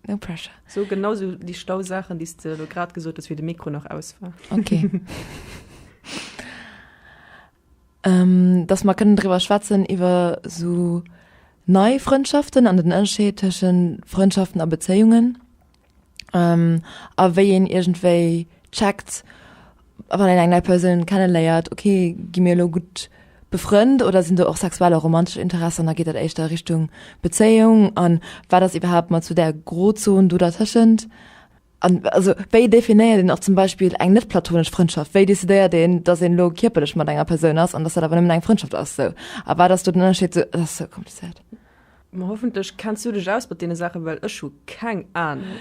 No pressure. So genau sou déi schlau Saachen, déi s de elo grad gesot hues, wéi de Mikro nach aus war. Okay. ähm, dass mer kënnen driwwer schwätzen, iwwer sou nei Frëndschaften an den Ënnerscheed tëschen Frëndschaften a Bezéiungen, ähm, a wéi een iergendwéi checkt, wann een eng nei Persoun kenneléiert, ok gi mir elo gutt befrënnt oder sinn do och sexuell a romantesch Interessen, da geet dat éischter a Richtung Bezéiung an wat ass iwwerhaapt mat esou där Grozon do dertëschent? An also wéi definéiert een och zum Beispill eng net platonesch Frëndschaft? Wéi decidéiert een, datt een elo kierperlech mat enger Persoun ass an datt dat awer nëmmen eng Frëndschaft ass esou? A wat ass do den Ënnerscheed esou? Dat ass esou komplizéiert. Ma hoffentlech kenns du dech aus mat deene Saachen, well ech hu keng Ahnung.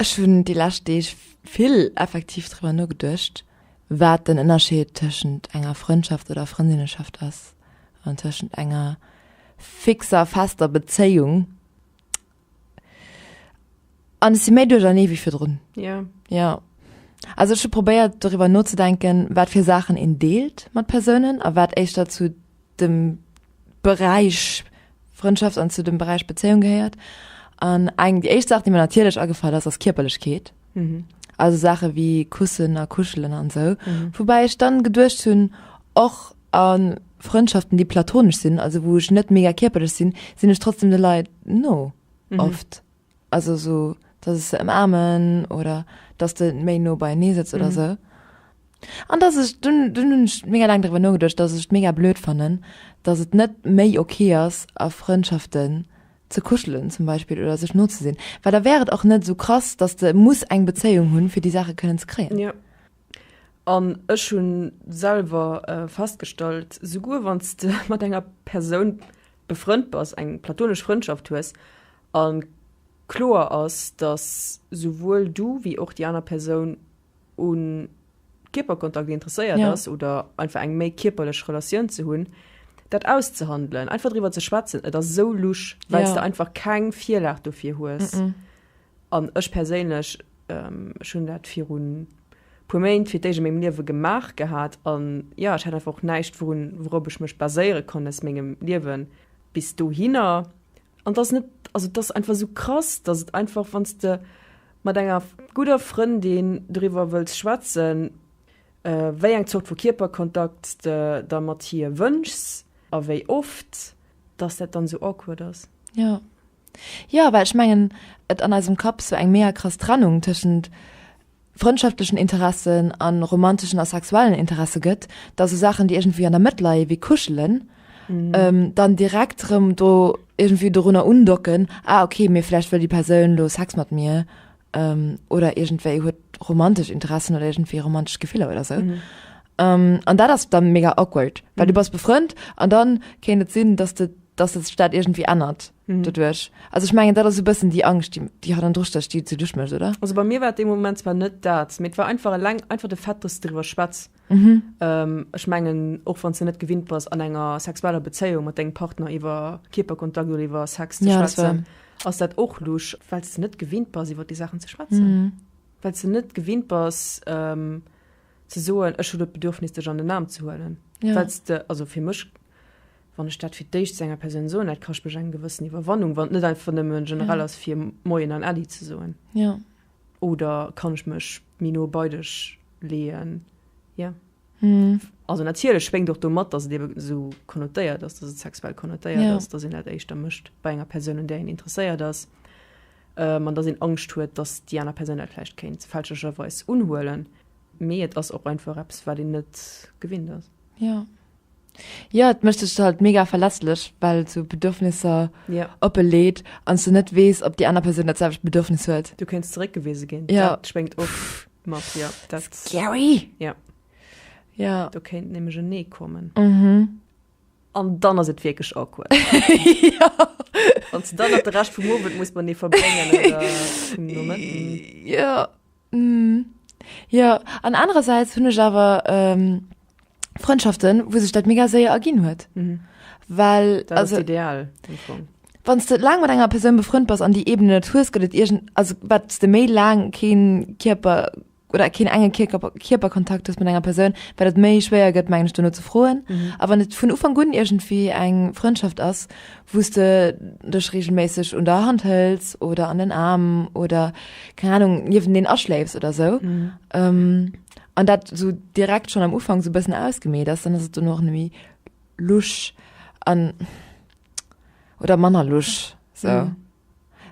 Ech hunn déi lescht Deeg vill effektiv driwwer nogeduecht, wat den Ënnerscheed tëschent enger Frëndschaft oder Frëndinneschaft ass an tëschent enger fixer, fester Bezéiung. An ech si méi duerchernee wéi virdrun. Jo. Jo. Also ech hu probéiert doriwwer nozedenken, wat fir Saachen een deelt mat Persounen a wat éischter zu dem Beräich Frëndschaft an zu dem Beräich Bezéiung gehéiert. An eng déi éischt Saach, déi mir natierlech agefall ass, ass Kierperlechkeet. Mhm. Also Saache wéi Kussen a Kuschelen an sou. Mhm. Woubäi ech dann geduecht hunn, och a Frëndschaften, déi platonesch sinn, also wou ech net mega kierperlech sinn, sinn ech trotzdem de Leit no, oft. Also sou dass ech se ëmaarmen oder dass de méi no beienee sëtz oder sou. An dass ech, dunn dunn hunn ech mega laang driwwer nogeduecht, dass ech et mega blöd fannen, dass et net méi ok ass a Frëndschaften ze kuschelen zum Beispill oder sech no ze sinn, well da wär et och net sou krass, dass de muss eng Bezéiung hunn fir déi Saache kënnen ze kréien. Jo. An ech hu selwer festgestallt, souguer wann s de mat enger Persoun befrënnt bass, eng platonesch Frëndschaft hues, A kloer ass, dass souwuel du wéi och déi aner Persoun u Kierperkontakt interesséiert ass oder einfach eng méi kierperlech Relatioun ze hunn, dat auszehandelen, einfach driwwer ze schwätzen. Et ass esou lusch, well s de einfach keng Virlag dofir hues. An ech perséinlech, ech hunn dat virun e puer Méint fir d'éischt a mengem Liewe gemaach gehat an, jo, ech hat einfach och näischt, wourun, wourop ech mech baséiere konnt aus mengem Liewe bis dohinner. An dass net, also dass einfach sou krass, dass et einfach wann s de mat enger gudder Frëndin doriwwer wëlls schwätzen, wéi eng Zort vu Kierperkontakt s de der mat hir wënschs a wéi oft, dass dat dann sou awkward ass. Jo, jo, well ech mengen et an eisem Kapp sou eng mega krass Trennung tëschent. frëndschafteschen Interessen a romanteschen a sexuellen Interesse gëtt, dass esou Saachen, déi iergendwéi an der Mëtt leie wéi Kuschelen, dann direkt erëm do iergendwéi dorunner undocken, ah okay, mee vläicht wëll déi Persoun elo Sex mat mir oder iergendwéi huet romantesch Interessen oder iergendwéi romantesch Gefiller oder esou. An dat ass da mega awkward, well du bass befrënnt an da kéint et sinn, dass de, dass sech dat iergendwéi ännert. Mhm. Doduerch. Also ich mengen dat ass e bëssen déi Angscht, déi, déi hat an Drustécht, déi ze duerchmécht, oder? Also bei mir war et dee Moment zwar net dat, mee et war einfach eleng einfach de Fait, dass du driwwer schwätz. Mhm. Ähm, ech mengen, och wann du net gewinnt bass, an enger sexueller Bezéiung mat dengem Partner iwwer Kierperkontakt oder iwwer Sex ze Ja, das schwätzen, ass dat och lusch, well du net gewinnt bass, iwwer déi Saachen ze schwätzen. Mhm. Well du net gewinnt bass, ähm, ze soen, ech hu dat Bedürfnis, dech an den Aarm ze huelen. Ja. Well du, also fir mech, wann ech dat fir d'éischt zu enger Persoun soen, dat kascht mech eng gewëssen Iwwerwannung, wann et net einfach nëmme generell ass, fir Moien an Äddi ze soen. Ja. Oder kann ech mech méi no bei dech leeën? Ja. Mhm. Also natierlech schwéngt och domat, dass et eben esou konnotéiert ass, dass et sexuell konnotéiert ja. ass, dass een dat éischter mécht bei enger Persoun, un där een interesséiert ass, ähm, an dass een Angscht huet, dass déi aner Persoun dat vläicht kéint fälschlecherweis unhuelen. Mee et ass och einfach eppes, wat een net gewinnt ass. Ja. Jo, et mécht dech halt mega verletzlech, well sou Bedürfnisser ja. oppe leet ans du net wees, ob die aner Persoun dat selwecht Bedürfnis huet. Du kenns zeréckgewise ginn. Ja. Dat schwéngt och mat ja, dat Scary. Ja. Ja. Du kéint nämlech en Nee kommen. Mhm. An dann ass et wierklech awkward. ja. An dann op de Recht vum Owend muss man nee verbréngen oder vum Moment. Ja. Jo, an anerersäits hunn ech awer Frëndschaften, wou sech dat mega séier erginn huet, well, also ideal am Fong, wann s de laang mat enger Persoun befrënnt bass an déi Ebenen net hues, gëtt et iergend, also wat s de méi laang keen Kierper oder keen enge Kierker Kierperkontakt hues mat enger Persoun, wat et méi schwéier gëtt mengen ech dono ze froen, a wann et vun Ufank un iergendwéi eng Frëndschaft ass, wou s de dech regelméisseg un der Hand hëls oder an den Aarm oder keng Ahnung niewendeen aschléifs oder sou mhm. ähm, an dat so direkt schon am Ufang so bëssen ausgemeet ass, dann ass et du noch nemi lusch an oder manner lusch so. Mhm.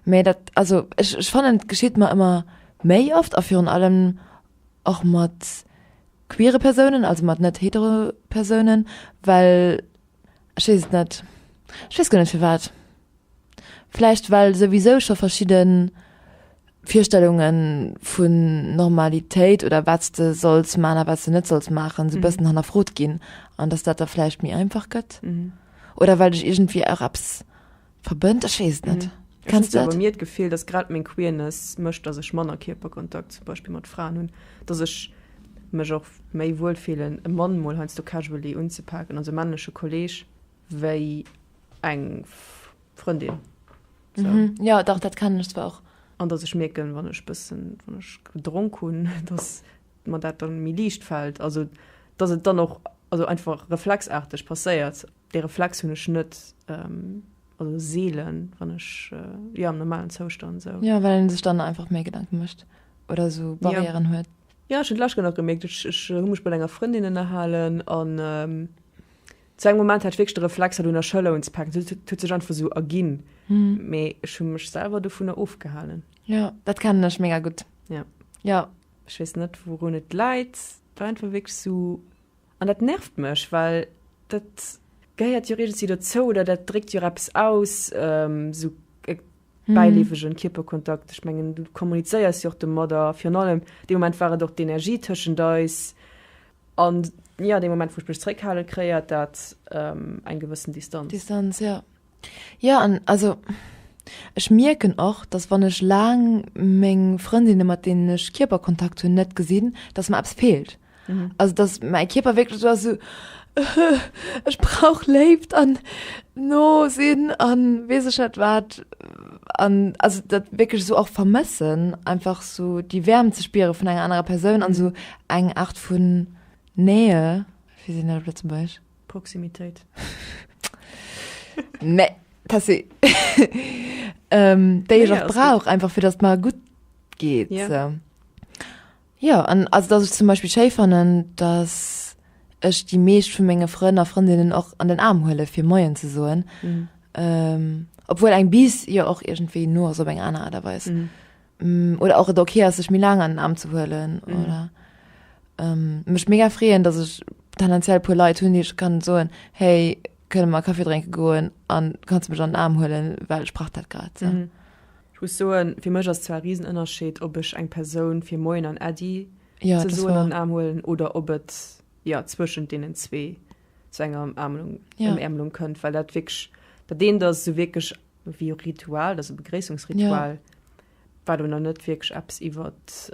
Mee dat also ech, ech fannnen geschitt mer ëmmer méi oft a virun allem och mat queere Persounen, also mat net hetero Persounen, well Ech weess et net. Ech weess guer net firwat. Vläicht well souwisou scho verschidde Virstellunge vun Normalitéit oder wat s de solls maachen a wat s de net solls maachen, esou e bëssen hannerfrot ginn an datt dat da vläicht méi einfach gëtt. Oder well ech iergendwéi och eppes. Verbënnt? Ech weess et net. Ech hunn awer mir d'Gefill, dass grad meng Queerness mécht, dass ech manner Kierperkontakt zum Beispill mat Fraen hunn, dass ech mech och méi wuel fillen, e Mann mol heiansdo casually unzepaken, also e männleche Kolleeg, wéi eng Frëndin. Sou. Jo, dach, dat kennen ech zwar och. An dass ech mierken, wann ech bëssen, wann ech gedronk hunn, dass. mer dat dann méi liicht fällt, also dass et dann och also einfach reflexarteg passéiert, dee Reflex hunn ech net, also seelen, wann ech jo am normalen Zoustand esou. Jo, well een sech dann einfach méi Gedanken mécht oder esou Barrièren huet. Jo, ech hunn et d'lescht Kéier nach gemierkt, ech ech hu mech mat enger Frëndin ënnerhalen an zu engem Moment hat ech wierklech de Reflex hat un der Schëller unzepaken, dat huet sech einfach esou erginn, mee ech hu mech selwer dovunner ofgehalen. Jo, dat kennen ech mega gutt. Jo. Ech weess net wourun et läit, war einfach wierklech esou an dat nervt mech, well dat gehéiert jo iergendwéi dozou oder dat dréckt jo och eppes aus, esou e bäileefegen Kierperkontakt. Ech mengen du kommunizéiers jo och domat a virun allem dee Moment war et och d'Energie tëschent eis an jo dee Moment wou ech mech zréckhale, kréiert dat eng gewëssen Distanz. Distanz, jo. Jo an also ech mierken och, dass wann ech laang meng Frëndinne mat deenen ech Kierperkontakt hunn net gesinn, dass mer eppes feelt. Mhm. Also dass mäi Kierper wierklech esou ass so ech brauch Léift an no sinn an weess ech net wat an also dat wierklech esou och vermëssen einfach esou déi Wäermt ze spiere vun enger anerer Persoun an esou eng Aart vun Nähe, wéi seet een dat op Lëtzebuergesch? Proximitéit. Nee, Tessy. ähm, déi nee, ech auch brauch, einfach fir datt mar gutt geet. Ja, so. ja an also dat ech zum Beispiel schéi fannen, datt ech déi meescht vu menge Frënn a Frëndinnen och an den Arm huele fir Moien ze soen. Mhm. Ähm, obwohl eng bis jo och irgendwéi no ass op eng aner Aart a Weis. Mhm. Mm, oder auch et okay ass sech méi laang an den Arm ze huelen mm. oder ähm, mech mega freeën, dat ech tendenziell puer Leiit hunn, Dich kann soen hey kënne mal Kaffee drénke goen an kannst mech an den Arm huelen, well sprach dat grad. So. Mm. Ich muss soen fir mech ass zwar Riesenënnerscheed ob ech eng Persoun fir Moien an Äddi ja, ze soen an Arm huelen oder ob et ja zwëschen denen zwee zu enger Ämlung ja. Ämlung kënnt, well dat wg dat deen dat se wkeg Wéi e Ritual, also Begréissungsritual, war do nach net wierklech eppes iwwert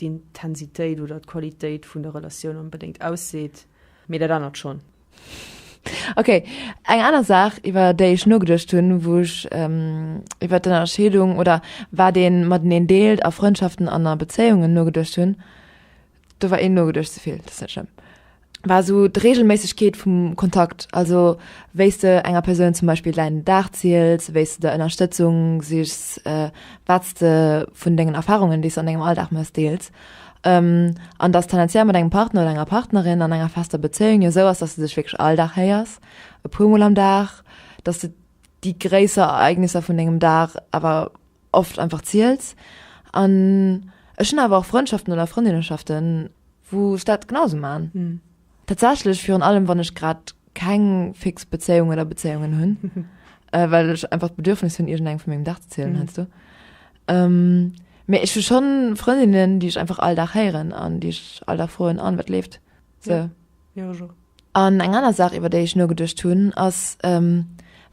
d'Intensitéit oder d'Qualitéit vun der Relatioun onbedéngt ausseet. Mee dat anert schonn. Ok, eng aner Saach, iwwer déi ech nogeduecht hunn, wou ech iwwert d'Ënnerscheedung oder wat ee mateneen deelt a Frëndschaften an a Bezéiungen nogeduecht hunn, do war een nogeduercht ze vill, dat net schlëmm, war esou d'Regelméissegkeet vum Kontakt, also wéi s de enger Persoun zum Beispill däin Dag ziels, wéi s de Ënnerstëtzung sichs, wat s de vun dengen Erfarungen, déi s de an dengem Alldag méchs, deels. An dass tendenziell mat engem Partner oder enger Partnerin an enger fester Bezéiung jo esou ass, dass de dech wierklech all Dag héiers, e puermol am Dag, dass de déi gréisser Ereignisser vun dengem Dag awer, oft einfach ziels an ech hun awer och Frëndschaften oder Frëndinneschaften wou ech dat genau sou maan tatsächlech virun allem wann ech grad keng fix Bezéiung oder Bezéiungen hun well ech einfach d'Bedürfnis hun iergend engem vun mengem Dag ze zielen heiansdo mee ech hu schon Frëndinnen déi ech einfach all Dag héieren an déi ech all Dag froen an wat leeft se an eng aner Saach iwwer déi ech nogeduecht hun ass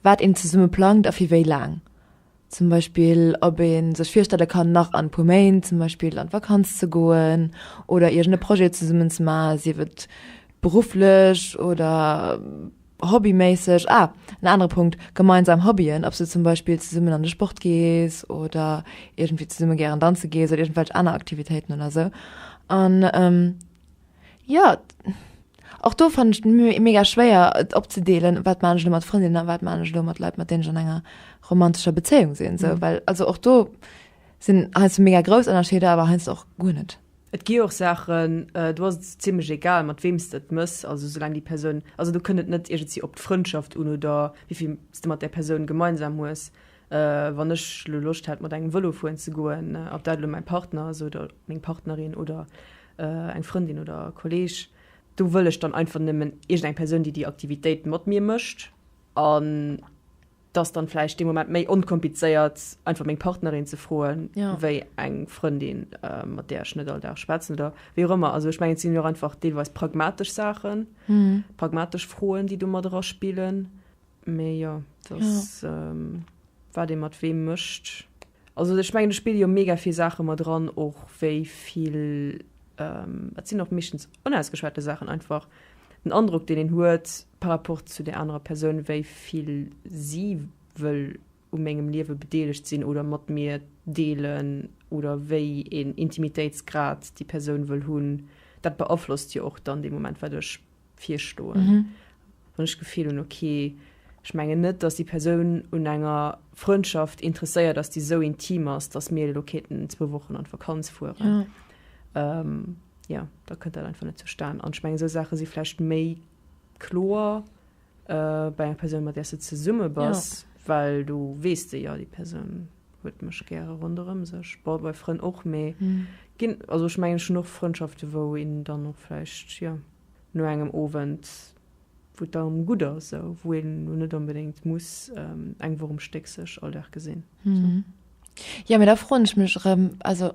wat een zesumme plangt a fir wéi laang Zum Beispill, ob ee sech virstelle kann, nach an e puer Méint zum Beispill an d'Vakanz ze goen oder iergend e Projet zesummen ze maachen, sief et berufflech oder hobbyméisseg. Ah, en anere Punkt, gemeinsam Hobbyen, ob s de zum Beispill zesummen an de Sport gees oder iergendwéi zesumme gären danze gees oder iergendwelch aner Aktivitéiten oder esou. An Ja, och do fannen ech d'Müh mega schwéier, et opzedeelen, wat man ech elo mat Frëndinnen a wat man ech elo mat Leit, mat deenen ech an enger romantescher Bezéiung sinn. Esou mhm. well also och do sinn heiansdo mega grouss Ënnerscheeder, awer heiansdo och guer net. Et gi och Saachen, äh, do ass et ziemlech egal, mat weem s du et mëss, also soulaang déi Persoun, also do kënnt et net iergendwéi op d'Frëndschaft un oder wéivill s du mat där Persoun gemeinsam hues. Wann ech lo Loscht hätt mat engem Vëlo fueren ze goen, ob dat elo mäi Partner ass oder meng Partnerin oder eng Frëndin oder Kolleeg, do wëll ech dann einfach nëmmen iergend eng Persoun, déi déi Aktivitéit mat mir mécht. An dass dann vläicht dee Moment méi onkomplizéiert einfach meng Partnerin ze froen, wéi eng Frëndin, mat där ech net all Dag schwätzen oder wéi och ëmmer. Also ech mengen, et sinn jo och einfach deelweis pragmatesch Saachen, pragmatesch Froen, déi do mat eraspillen. Mee jo, dass wat ee mat weem mécht. Also ech mengen, do spille jo mega vill Saache mat eran, och wéi vill, et sinn och meeschtens onausgeschwate Saachen einfach, den Androck, deen een huet par rapport zu där anerer Persoun, wéi vill si wëll u mengem Liewe bedeelegt sinn oder mat mir deelen oder wéi een Intimitéitsgrad déi Persoun wëll hunn. Dat beaflosst jo och dann dee Moment, wat ech virstoen, wann ech d'Gefill hunn, okay, ech mengen net, dass déi Persoun un enger Frëndschaft interesséiert ass, déi esou intim ass, dass mir elo kéinten zwou Wochen an d'Vakanz fueren. Ja. Ähm, ja, da kënnt dat einfach net zustan. An ech mengen, esou Saache si vläicht méi kloer äh, bei enger Persoun, mat där s de zesumme bass, ja. well du weess de, ja, déi Persoun. huet mech gäre ronderëm sech, bon bei Frënn och, mee ginn also ech mengen ech hunn och Frëndschaften wou een dann och vläicht jo no engem Owend wou et dann gutt ass esou, wou een elo net onbedéngt muss eng Woch um Stéck sech all Dag gesinn esou. Jo mee da froen ech mech erëm also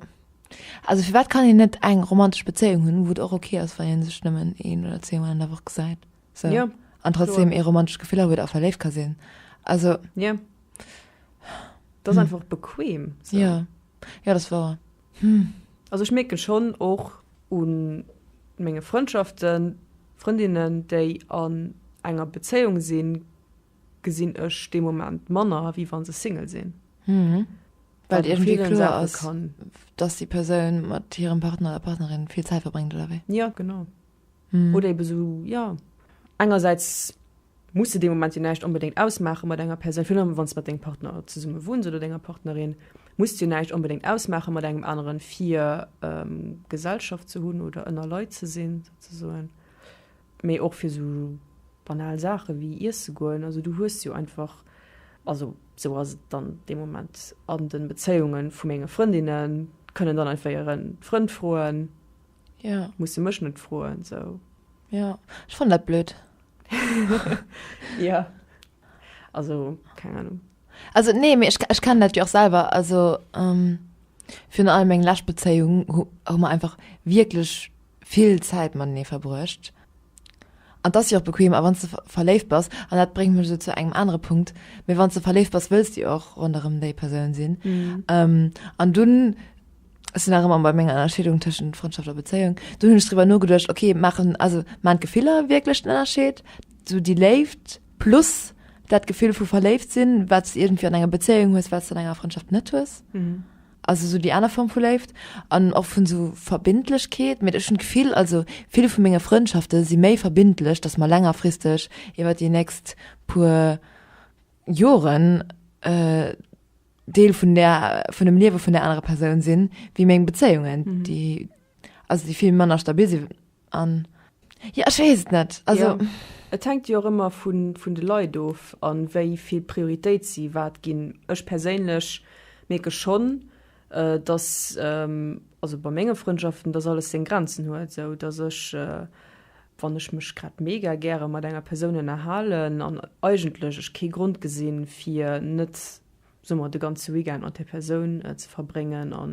also firwat kann een net eng romantesch Bezéiung hunn wou et och ok ass wann een sech nëmmen een oder zwee Mol an der Woch gesäit? So. Ja. An trotzdem e romantisch Gefiller huet a verléift ka sinn. Also. Ja. Das hm. einfach bequem. So. Ja. Ja, das war. Hm. Also ich merke schon och un menge Freundschaften, Freundinnen, déi an enger Beziehung sinn, gesinn ech de Moment Manner, wie wann se Single sinn. Mhm weil irgendwie klar ist, kann. dass die Person mit ihrem Partner oder Partnerin viel Zeit verbringt oder wie? Ja, genau. mm. oder eben so ja engerseits muss de moment je näicht unbedingt ausmachen mat enger person film wann mat den partner zu summe wohns oder denger partnerin muss je näicht unbedingt ausmachen mat engem anderen vier ähm, gesellschaft zu hunn oder ënner leute ze sinn so méi och fir so banal sache wie ihr ze goen also du hues jo einfach also so as dann de moment an den bezeungen vu menge freundinnen können dann einfach ihren front froen Ja. Muss de mech net froen sou. Ja, ech fannen dat blöd. ja. Also keng Ahnung. Also nee, mir ech, ech kann dat jo och selber. Also ähm, virun allem eng lescht Bezéiung hu mer einfach wierklech vill Zäit matenee verbruecht. An dass jo och bequem a wann ze verléift bass, an dat bréngt mech sou zu engem anere Punkt, mee wann ze verléift bass, wëlls de jo och ronderëm déi Persoun sinn. Mhm. Ähm, an dunn. Ech sinn nach ëmmer bei menger Ënnerscheedung tëschent Frëndschaft a Bezéiung. Dunn hunn ech driwwer nogeduecht, okay, maachen, also maan d'Gefiller wierklech den Ënnerscheed? Sou déi Léift plus dat Gefill vu verléift sinn, wat s de iergendwéi an enger Bezéiung hues, wat s de an enger Frëndschaft net hues? Also sou déi aner Form vu Léift an och vun sou Verbindlechkeet. Mee ech hunn d'Gefill, also vill vu menge Frëndschafte si méi verbindlech, dass mer längerfristeg iwwer déi nächst puer Joren, Deel vun der, vun dem Liewe vun der anerer Persoun sinn, wéi meng Bezéiungen, déi, also déi vill manner stabil sinn an, jo, ech weess et net, also. Et hänkt jo och ëmmer vun de Leit of a wéi vill Prioritéit si wat ginn. Ech perséinlech mierke schonn, datt, also bei menge Frëndschaften, datt alles seng Grenzen huet, sou datt ech wann ech mech grad mega gäre mat enger Persoun ënnerhalen an eigentlech ech kee Grond gesinn, fir net, soe mer, de ganze Weekend mat där Persoun ze verbréngen a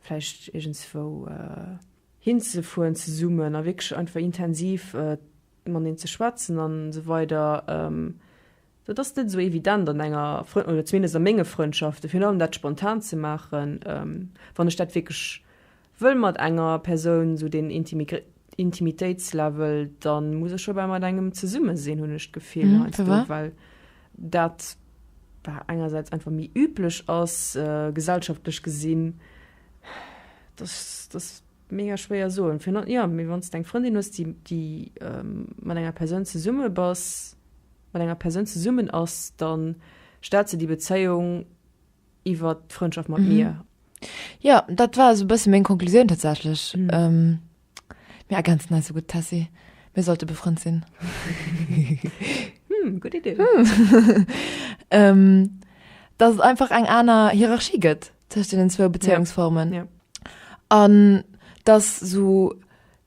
vläicht iergendswou hinzefueren zesummen a wierklech einfach intensiv mateneen ze schwätzen an esou weider. Dat ass net esou evident an enger, oder zumindest a menge Frëndschaften, virun allem dat spontan ze maachen, wann ech dat wierklech wëll mat enger Persoun, esou deen Intimitéitslevel, da muss ech dobäi mat engem zesumme sinn, hunn ech d'Gefill, heiansdo well dat engersäits einfach méi üblech ass, gesellschaftlech gesinn. Mega schwéier soen fir no, jo mee wann s de eng Frëndin hues déi déi mat enger Persoun zesumme bass, mat enger Persoun zesummen ass, da start se déi Bezéiung iwwert d'Frëndschaft mat mir. Jo dat war esou e bësse meng Konklusioun tatsächlech. Mir ergänzen eis esou gutt Tessy, mir sollte befrënnt sinn. Hm gutt Idee. Dass et einfach eng aner Hierarchie gëtt tëscht deenen zwou Bezéiungsformen. an dass sou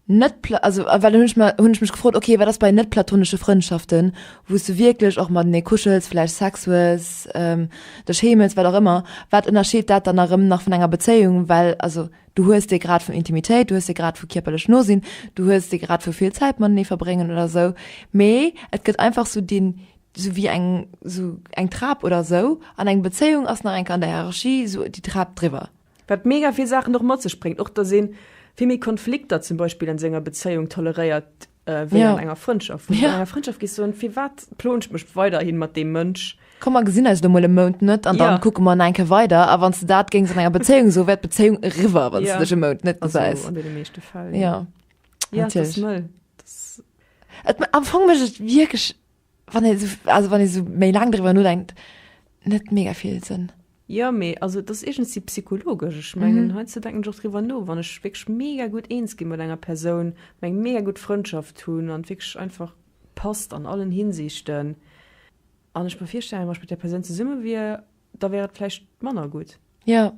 net also well hunn ech mer hunn ech mech gefrot okay wat ass bei net platonesche Frëndschaften wou's du wierklech och matenee kuschels vläicht Sex hues ähm dech heemels wat och ëmmer wat ënnerscheet dat dann erëm nach vun enger Bezéiung well also du hues dee Grad vun Intimitéit du hues dee Grad vu kierperlech no sinn du hues dee Grad vu vill Zäit matenee verbréngen oder sou mee et gëtt einfach sou deen sou wéi eng sou eng Trap oder sou an eng Bezéiung ass nach eng Kand der Hierarchie sou déi Trap driwwer. Wat mega vill Saachen och mat sech bréngt, och dass ee vill méi Konflikter zum Beispill an senger Bezéiung toleréiert wéi an enger Frëndschaft. Wou du an enger Frëndschaft gees soen, firwat ploen ech mech weiderhi mat deem Mënsch? Komm mer gesinn eis elo mol e Mount net an da kucke mer eng Kéier weider. A wann s de dat géings an enger Bezéiung soe wär d'Bezéiung eriwwer, wann s de dech e Mount net gesäis. An deene meeschte Fäll jo. Am Fong mécht et wierklech wann e also wann e so méi lang driwer no denkt net mega vill sinn ja mee also das egens die psychologesch ech mengen mhm. he ze denken doch driwer no wann ech wegg mega gut eens gi mat enger person meng mega gut freundschaft hunn an wegg einfach passt an allen hinsichten an ech befirstellen was mit der person ze summe wie da wäret flecht manner gut ja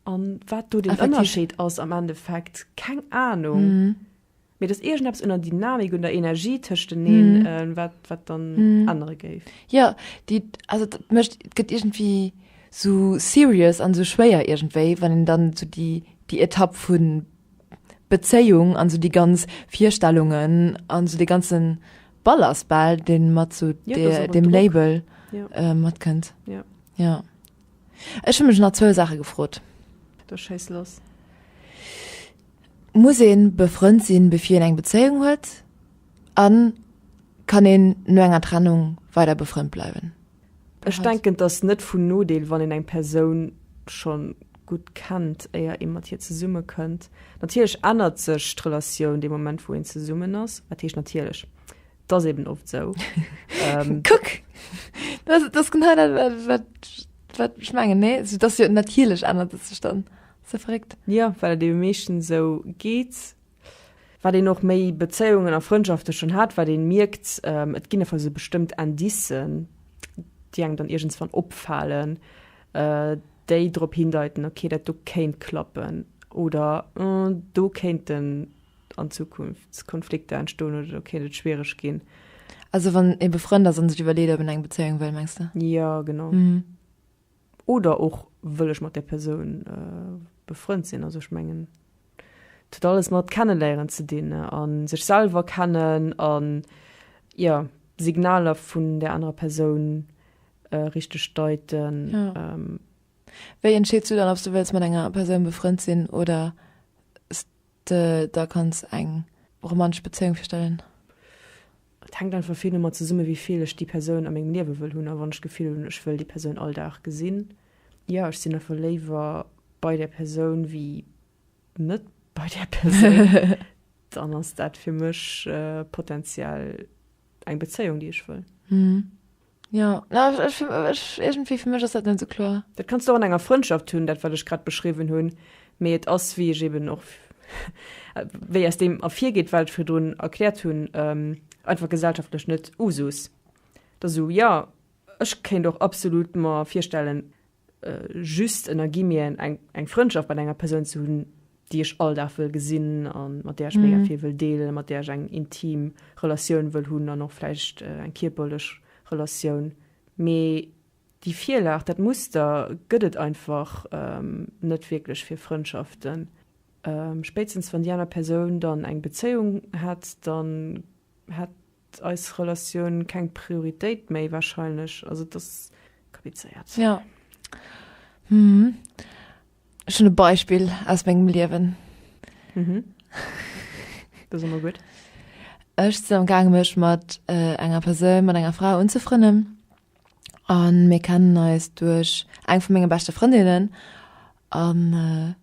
an wat du den ënnerscheet ass am endeffekt keng ahnung mhm. Mee et ass iergendeppes un der Dynamik, un der Energie tëschteneen, wat, wat dann ännere géif. Jo, déi, also dat mécht, et gëtt iergendwéi esou serious an esou schwéier iergendwéi, wann een dann esou déi, déi Etapp vu Bezéiung an esou déi ganz Virstellungen an esou dee ganze Ballast bal, dee mat esou deem Label matkënnt. Jo. Jo. Ech hu mech nach zwou Saache gefrot. Da schéiss los. Muss een befrënnt sinn bevir een eng Bezéiung huet? An kann een no enger Trennung weider befrënnt bleiwen? Ech denken t'ass net vun Nodeel wann een eng Persoun schon gutt kennt éier een mat hir zesumme kënnt. Natierlech ännert sech d'Relatioun dee Moment wou een zesummen ass, wat heescht natierlech? T'ass eben oft sou. Kuck! T'ass genau dat wat ech mengen, nee? T'ass jo natierlech ännert et sech dann. Ze verréckt. Jo, well et ebe meeschtens esou geet. Wat een och méi Bezéiungen a Frëndschafte schonn hat, wat ee mierkt, et ginn einfach esou bestëmmt Indicen, déi engem dann iergendswann opfalen, déi drop hindeiten, okay, dat do kéint klappen oder do kéinten an Zukunft Konflikter entstoen oder do kéint et schwiereg ginn. Also wann ee befrënnt ass a sech iwwerleet, ob een eng Bezéiung wëll, mengs de? Jo, genau. oder och wëll ech mat där Persoun befrënnt sinn. Also ech mengen et huet alles mat Kenneléieren ze dinn a sech selwer kennen a jo Signaler vun där anerer Persoun richteg deiten. Wéi entscheets du dann, ob s du wëlls mat enger Persoun befrënnt sinn oder s. De der kanns eng romantesch Bezéiung virstellen? Et hänkt einfach vill domat zesumme wéi vill ech déi Persoun a mengem Liewe wëll hunn a wann ech d'Gefill hunn, ech wëll déi Persoun all Dag gesinn. Jo, ech sinn einfach léiwer bei där Persoun wéi net bei där Persoun. Dann ass dat fir mech potenziell eng Bezéiung, déi ech wëll. Jo, na, ech, ech, iergendwéi, fir mech ass dat net esou kloer. Dat kanns de och an enger Frëndschaft hunn, dat, wat ech grad beschriwwen hunn, mee et ass, wéi ech eben och, wéi aus deem ervirgeet, wat ech virdrun erkläert hunn, einfach gesellschaftlech net Usus. Dass esou, jo, ech kéint och absolut mer virstellen, Just ënnergimien eng Frëndschaft mat enger Persoun ze hunn, déi ech all Dag wëll gesinn an mat där ech mega vill wëll deelen, mat där ech eng intim Relatioun wëll hunn an och vläicht eng kierperlech Relatioun. Mee déi Virlag, dat Muster gëtt et einfach net wierklech fir Frëndschaften. Spéitstens wann déi aner Persoun dann eng Bezéiung hätt, dann hätt eis Relatioun keng Prioritéit méi wahrscheinlech, also et ass komplizéiert. Jo hm ech hunn e Beispill aus mengem Liewen. Mhm. Dat ass ëmmer gutt. Ech sinn am gaange mech mat äh, enger Persoun, mat enger Fra unzefrënnen an mir kennen eis duerch eng vu menge beschte Frëndinnen an äh,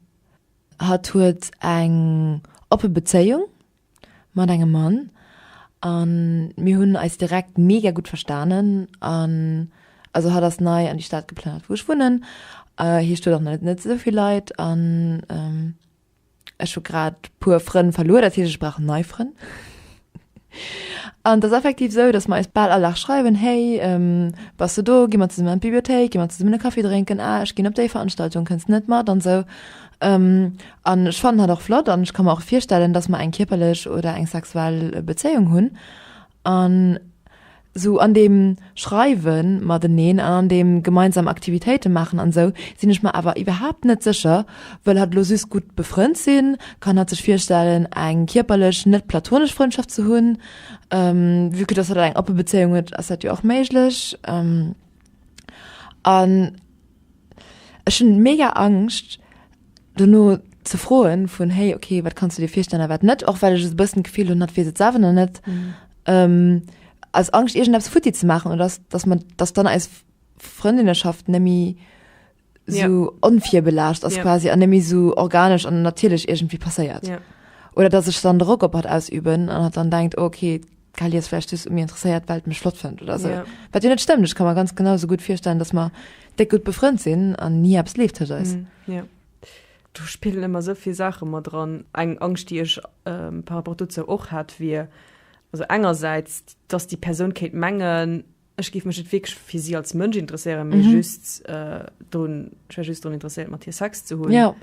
hatt huet eng oppe Bezéiung Mat engem Mann an mir hunn eis direkt mega gutt verstanen an also hatt ass nei an déi Stad geplënnert wou ech wunnen. Hie stoet och nach net esou vill Leit an ech hu grad puer Frënn verluer, dat heescht ech brauch nei Frënn. An et ass effektiv esou, datt mer eis bal all Dag schreiwen, hey bass du do, gi mer zesummen an d'Bibliothéik, gi mer zesummen e Kaffi drénken, ah ech ginn op déi Veranstaltung, kënns net mat an esou An ech fannen hatt och flott an ech ka mer och virstellen dass mer eng kierperlech oder eng sexuell Bezéiung hunn an sou an deem Schreiwe mateneen an an deem gemeinsam Aktivitéite maachen an sou sinn ech mer awer iwwerhaapt net sécher wëll hatt lo just gutt befrënnt sinn, kann hatt sech virstellen eng kierperlech net platonesch Frëndschaft ze hunn vue que dass hatt eng oppe Bezéiung huet ass dat jo och méiglech an. Ech hunn mega Angscht dono ze froen vun hey okay wat kannst du dir virstellen wat net och well ech es bëssen gefiel hun hat wieet selwer noch net mhm. ähm, als Angst irgend abs futti ze machen oder dass, dass man das dann als Freundinnenschaft nemmi so ja. onfir belascht as ja. quasi an nemmi so organisch an natürlich irgendwie passeiert ja. oder dass ich dann Rock op hat ausüben an hat dann denkt okay D'Kali ass vläicht just méi interesséiert, well d'mech flott fënnt oder esou. Wat jo net stëmmt, ech ka mer ganz genau esou gutt virstellen, datt mer déck gutt befrënnt sinn an ni eppes leeft tëscht eis. Do spillen ëmmer esou vill Saache mat eran. Eng Angscht, déi ech par rapport dozou och hat, wier also engersäits, datt déi Persoun kéint mengen, Ech géif mech net wierklech fir si als Mënsch interesséieren, mee mhm. just äh, drun, ich war just drun interessiert mat hier Sex ze hunn. Ja.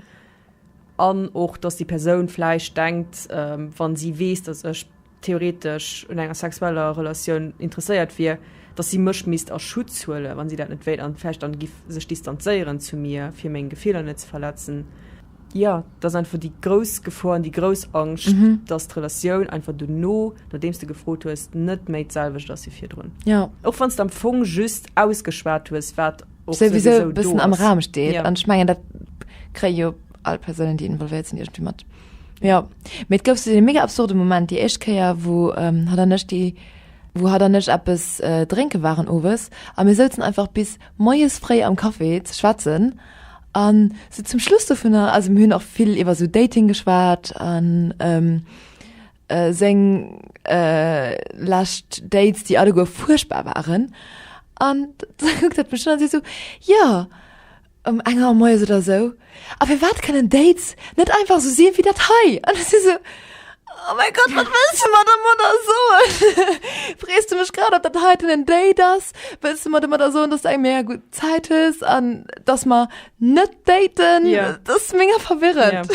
An och dass die Persoun fleisch denkt, ähm, wann sie wees, dass ech theoretisch un enger sexueller Relatioun interesséiert wier, dass sie mech mist a Schutz huele, wann sie dat net wéit an fecht an gif sech distanzéieren zu mir fir meng Gefehler net ze verletzen. Ja, dat ass einfach déi grouss Gefor an déi grouss Angscht, dass d'Relatioun einfach dono, nodeems de gefrot hues, net méi d'selwecht ass wéi virdrun. Och wann s de am Fong just ausgeschwat hues, wat och souwisou do ass. Souwisou e bëssen am Raum steet. An ech mengen, dat kréie jo all Persounen, déi involvéiert sinn, iergendwéi mat. Jo. Mee et gouf sou dee mega absurde Moment déi éischt Kéier, wou hatt an ech déi, wou hatt an ech eppes drénke waren owes a mir souzen einfach bis moies fréi am Café ze schwätzen. An sou zum Schluss dovunner, also mir hunn och vill iwwer sou Dating geschwat an seng lescht Dates, déi alleguer fuerchtbar waren. An da kuckt hatt mech un a seet sou, jo, ëm eng Auer moies oder sou, a firwat kënnen Dates net einfach sou si wéi dat hei? An ech si sou. Oh mein Gott, wat wëlls du mer dermadder soen? Frees du mech grad, ob dat heiten en Date ass? Wëlls du mer dermadder soen, dass du eng mega gutt Zäit hues an dass mer net daten? Ja. Dat ass mega verwirrend.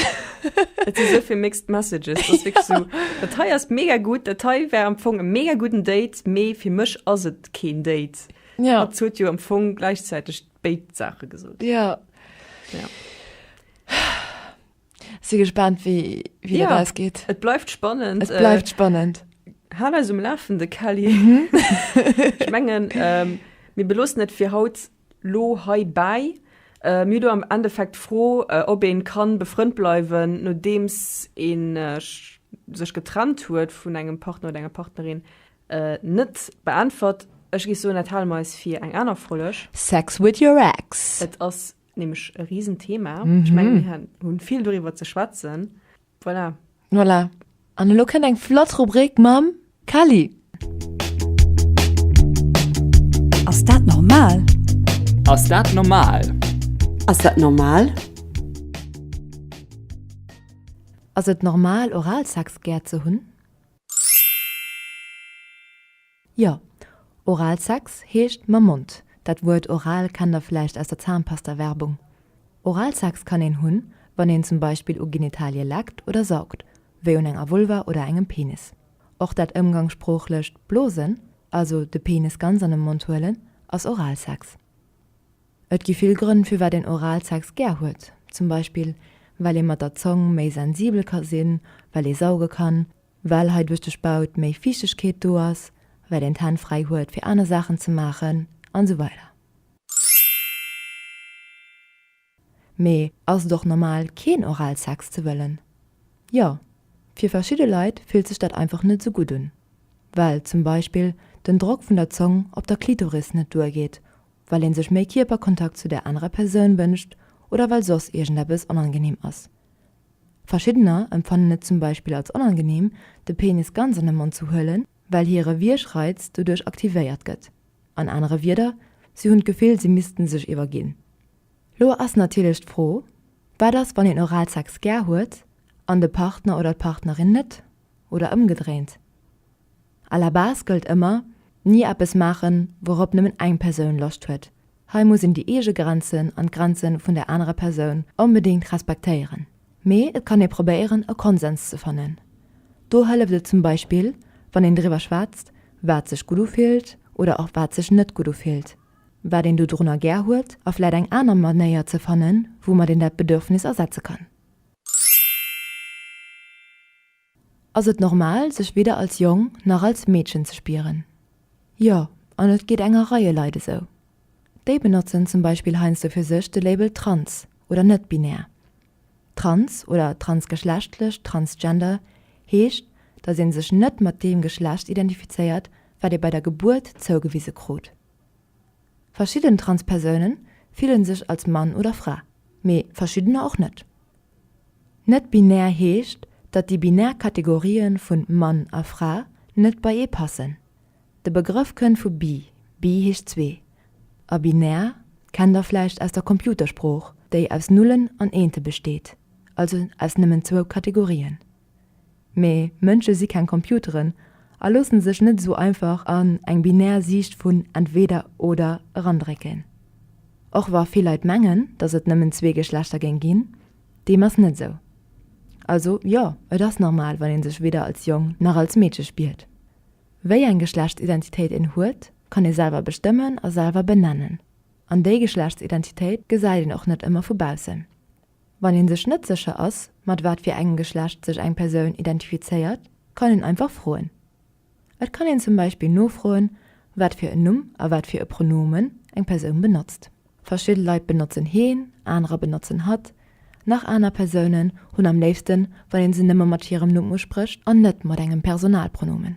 Et si souvill mixed messages. Dat ass wierklech sou, dat hei ass mega gutt, dat hei wär am Fong e mega gudden Date, mee fir mech ass et keen Date. Ja. Hat huet jo am Fong gläichzäiteg béid Saache gesot. Ja. Ja. Si gespannt wéi wéi ja. dat ausgeht. Et bleift spannend. Et bleift äh, spannend. Hal eis um Lafen de Kelly. Mhm. ich mengen ähm, mir belossen net fir haut lo hei bei. Äh, mir do am Endeffekt froh, äh, ob een kann befrënd bleiwen, nodeems een äh, sech getrennt huet vun engem Partner oder enger Partnerin äh, net beäntwert. Ech gi so net Hal meis fir eng aner Folleg. Sex with your ex. Et ass nämlech e riesen Thema. Mm -hmm. Ich meine, wir haben viel darüber zu schwätzen. Voilà. Voilà. An lo kënnt eng flott Rubrik mam Kali. Ass dat normal? Ass dat normal? Ass dat normal? Ass et normal Oralsex gär ze hunn? Jo, Oralsex heescht mam Mond. Dat Wuert oral kennt der vläicht aus der Zahnpasta-Werbung. Oralsex kann een hunn, wann een zum Beispill u Genitalie leckt oder saugt, wéi un enger Vulva oder engem Penis. Och dat ëmgangssproochlecht Blosen, also de Penis ganz an de Mond huelen, ass Oralsex. Et gi vill Grënn, firwat een Oralsex gär huet. Zum Beispill, well ee mat der Zong méi sensibel ka sinn, well ee sauge kann, well hei duerch de Spaut méi Fiichtegkeet do ass, well een d'Hänn fräi huet fir aner Saachen ze maachen an esou weider. Mee ass et och normal keen Oralsex ze wëllen? Jo, fir verschidde Leit fillt sech dat einfach net esou gutt un, well zum Beispill den Drock vun der Zong op der Klitoris net duergeet, well een sech méi Kierperkontakt zu där anerer Persoun wënscht oder well soss iergendeppes onangenehm ass. Verschiddener empfannen et zum Beispill als onangeneem, de Penis ganz an de Mond ze huelen, well hire Wiergreiz doduerch aktivéiert gëtt. An anere Wieder, si hunn d'Gefill, si missten sech iwwerginn. Lo ass natierlech d'Fro, Wat ass, wann een Oralsex gär huet an de Partner oder d'Partnerin net, oder ëmgedréint? À la base gëllt ëmmer, Ni eppes maachen, wourop nëmmen eng Persoun Loscht huet. Hei muss een déi eege Grenzen an d'Grenze vun der anerer Persoun onbedéngt respektéieren. Mee et kann ee probéieren, e Konsens ze fannen. Do hëlleft et zum Beispill, wann een driwwer schwätzt, wat sech gutt ufillt oder och wat sech net gutt ufillt, wat een dodrunner gär huet a vläit eng aner Manéier ze fannen, woumat een dat Bedürfnis ersetze kann. Ass et normal, sech weder als Jong nach als Meedchen ze spieren? Jo, an et geet enger Reie Leit esou. Déi benotzen zum Beispill heiansdo fir sech de Label trans oder net-binär. Trans oder transgeschlechtlech, transgender, heescht, datt ee sech net mat deem Geschlecht identifizéiert, wat ee bei der Gebuert zougewise krut. Verschidden Transpersounen fillen sech als Mann oder Fra, mee verschiddener och net. Net-binär heescht, datt déi binär Kategorien vun Mann a Fra net bei ee passen. De Begrëff kënnt vu bi, bi heescht zwee, a binär kennt der vläicht aus der Computersprooch, déi aus Nullen an Eente besteet, also aus nëmmen zwou Kategorien. Mee Mënsche si keng Computeren a loosse sech net esou einfach an eng binär Siicht vun entweder oder erandrécken. Och wa vill Leit mengen, datt et nëmmen zwee Geschlechter géing ginn, deem ass net esou. Also jo, et ass normal, wann ee sech weder als Jong nach als Meedche spiert. Wéi eng Geschlechtsidentitéit een huet, kann ee selwer bestëmmen a selwer benennen. An déi Geschlechtsidentitéit gesäit een och net ëmmer vu baussen. Wann een sech net sécher ass, mat wat fir engem Geschlecht sech eng Persoun identifizéiert, kann een einfach froen. Et kann een zum Beispill nofroen, wat fir en Numm a wat fir e Pronomen eng Persoun benotzt. Verschidde Leit benotzen heen, anerer benotzen hatt, nach aner Persounen hunn am léifsten, wann ee se nëmme mat hirem Numm usprécht an net mat engem Personalpronomen.